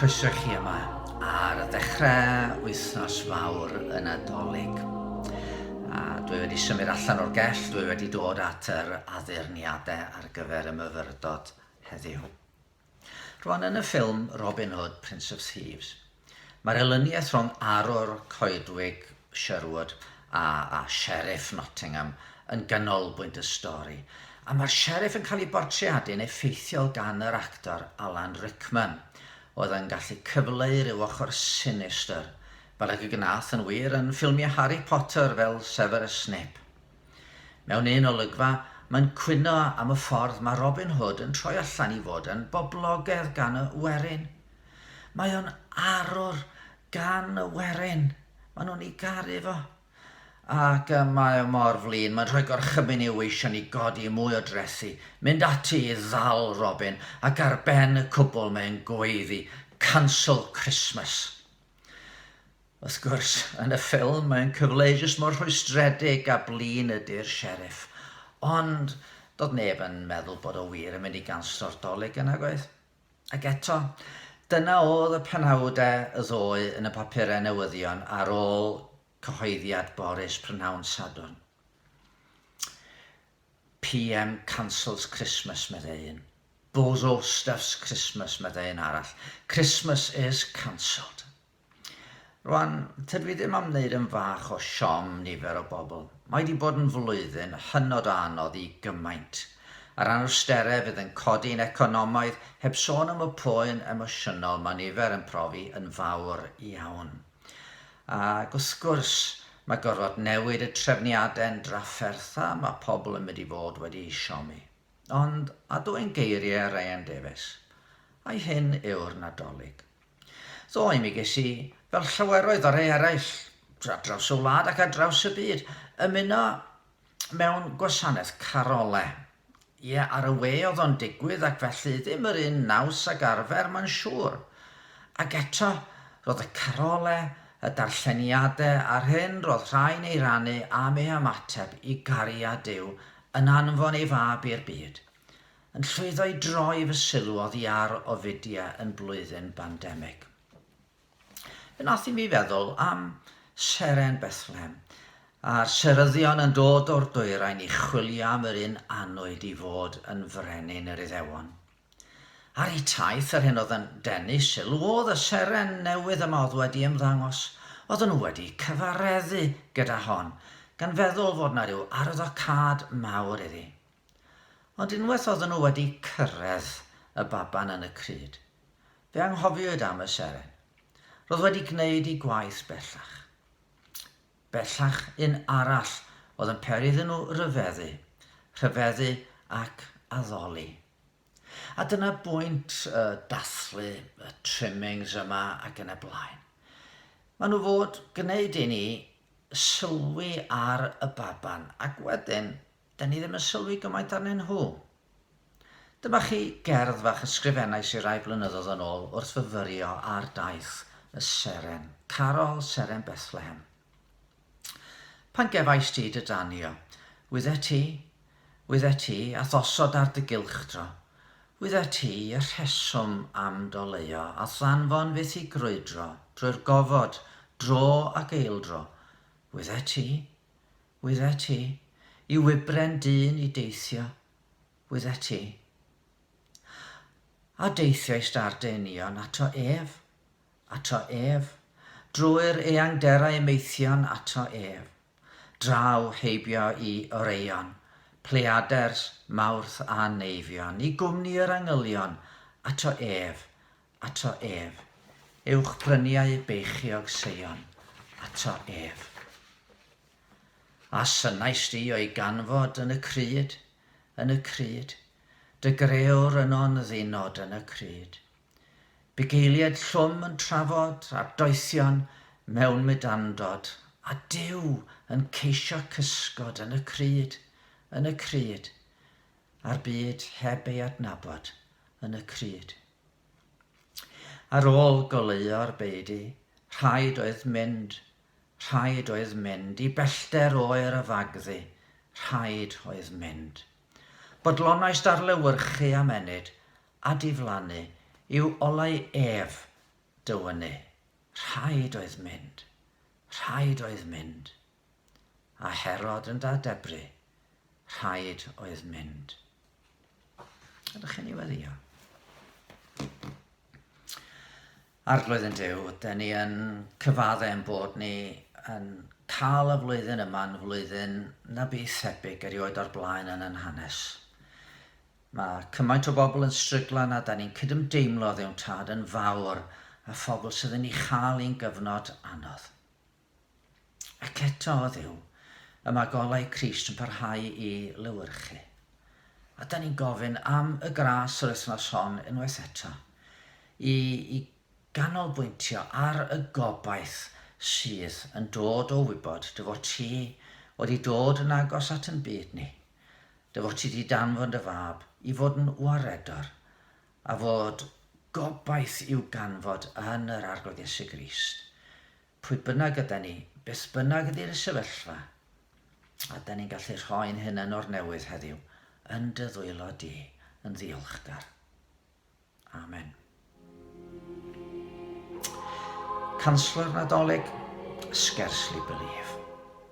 Croeso i chi yma ar ddechrau wythnos fawr y Nadolig. A dwi wedi symud allan o'r gell, dwi wedi dod at yr addurniadau ar gyfer y myfyrdod heddiw. Rwan yn y ffilm Robin Hood, Prince of Thieves, mae'r elyniaeth rhwng Arwr Coedwig Sherwood a, a Sheriff Nottingham yn ganolbwynt y stori, a mae'r Sheriff yn cael ei bortreadu'n effeithiol gan yr actor Alan Rickman, oedd yn gallu cyfleu rhyw ochr sinistr, fel ag y gwnaeth yn wir yn ffilmiau Harry Potter fel Severus Snape. Mewn un olygfa, mae'n cwyno am y ffordd mae Robin Hood yn troi allan i fod yn boblogaidd gan y werin. Mae o'n arwr gan y werin. Maen nhw'n ei garu fo. Ac y mae o mor flin, mae'n rhoi gorchymyn i'w eisiau ni godi mwy o drethi, mynd ati i ddal Robin, ac ar ben y cwbl mae'n gweiddi, Cancel Christmas! Wrth gwrs, yn y ffilm, mae'n cyfleu jyst mor rhwystredig a blin ydy'r Sheriff. Ond, doedd neb yn meddwl bod o wir yn mynd i ganslo'r Dolig yna, gwaith. Ac eto, dyna oedd y penawdau y ddoe yn y papurau newyddion ar ôl cyhoeddiad Boris prynhawn Sadwrn. PM cancels Christmas, meddai un. Bozo stuffs Christmas, meddai un arall. Christmas is cancelled. Rwan, tydw i ddim am wneud yn fach o siom nifer o bobl. Mae wedi bod yn flwyddyn hynod o anodd i gymaint. Yr anawsterau fydd yn codi yn economaidd, heb sôn am y poen emosiynol mae nifer yn profi yn fawr iawn. Ac wrth gwrs, mae gorfod newid y trefniadau'n drafferth a mae pobl yn mynd i fod wedi eu siomi. Ond, a dwyn geiriau Ryan Davies, ai hyn yw'r Nadolig? Ddoe mi ges i, fel llaweroedd o rei eraill ar draws y wlad ac ar draws y byd, ymuno mewn gwasanaeth carole. Ie, ar y we oedd o'n digwydd ac felly ddim yr un naws ag arfer, mae'n siŵr. Ac eto, roedd y carole, y darlleniadau a'r hyn roedd rhai'n ei rannu am ei hymateb i gariad Duw yn anfon ei Fab i'r byd. yn llwyddo i droi fy sylw oddi ar Ovidia yn blwyddyn bandemig. Fe wnaeth i mi feddwl am Seren Bethlehem, a'r seryddion yn dod o'r dwyrain i chwilio am yr un anwyd i fod yn frenin yr Iddewon. Ar eu taith, yr hyn oedd yn denu sylw oedd y seren newydd yma oedd wedi ymddangos. Oedden nhw wedi cyfareddu gyda hon, gan feddwl fod yna rhyw arwyddocâd mawr iddi. Ond unwaith oedden nhw wedi cyrraedd y baban yn y crud, fe anghofiwyd am y seren. Roedd wedi gwneud ei gwaith bellach. Bellach un arall oedd yn peri iddyn nhw ryfeddu, rhyfeddu ac addoli. A dyna bwynt y dathlu, y trimmings yma ac yn y blaen. Maen nhw fod gwneud i ni sylwi ar y baban ac wedyn 'da ni ddim yn sylwi gymaint arnyn nhw. Dyma chi gerdd fach ysgrifennais i rai blynyddoedd yn ôl wrth fyfyrio ar daith y Seren, Carol Seren Bethlehem. Pan gefais ti dy danio, wyddet ti, wyddet ti, a thosod ar dy gylchdro, wyddet ti y rheswm am doleuo a ddanfon fyth i grwydro drwy'r gofod, dro ac eildro, wyddet ti, Wyddet ti, i wybren dyn i deithio, wyddet ti. A deithiai Stardenion ato ef, ato ef, drwy'r eangderau maethion ato ef, draw heibio i Oreion, Pleiaders, Mawrth a Neifion, i gwmni yr angylion, ato ef, Ato ef, ewch bryniau beichiog Seion, ato ef. A synnais di o'i ganfod yn y crud, yn y crud, dy greor yno'n ddinod yn y crud. Bugeiliaid llwm yn trafod a doethion mewn mydandod, a Duw yn ceisio cysgod yn y crud, yn y crud, a'r byd heb ei adnabod yn y crud. Ar ôl goleuo'r beudy, rhaid oedd mynd, rhaid oedd mynd, i bellter oer y fagddu, rhaid oedd mynd. Bodlonais darlewyrchu am ennyd, a diflannu, i'w olau ef, dywynnu. Rhaid oedd mynd. Rhaid oedd mynd. a Herod yn dad Debri, rhaid oedd mynd. Ydych chi'n ei weddio? Arglwydd yn Dyw, dyn ni yn cyfadde yn bod ni yn cael y flwyddyn yma'n flwyddyn na bu thebyg erioed o'r blaen yn yn hanes. Mae cymaint o bobl yn stryglan a da ni'n cydymdeimlo ddewn tad yn fawr a phobl sydd yn ei chael i'n gyfnod anodd. Ac eto o Dduw, y mae golau Crist yn parhau i lewyrchu. A da ni'n gofyn am y gras yr wythnos hon unwaith eto, i, i ganolbwyntio ar y gobaith sydd yn dod o wybod dy fod ti wedi dod yn agos at yn byd ni, dy fod ti wedi danfon dy fab i fod yn waredor, a fod gobaith i'w ganfod yn yr Arglwydd Iesu Grist. pwy bynnag ydan ni, beth bynnag ydi'r sefyllfa, ydan ni'n gallu rhoi'n hunan o'r newydd heddiw yn dy ddwylo di yn ddiolchgar. Amen. Canslwr Nadolig, Scarcely Believe.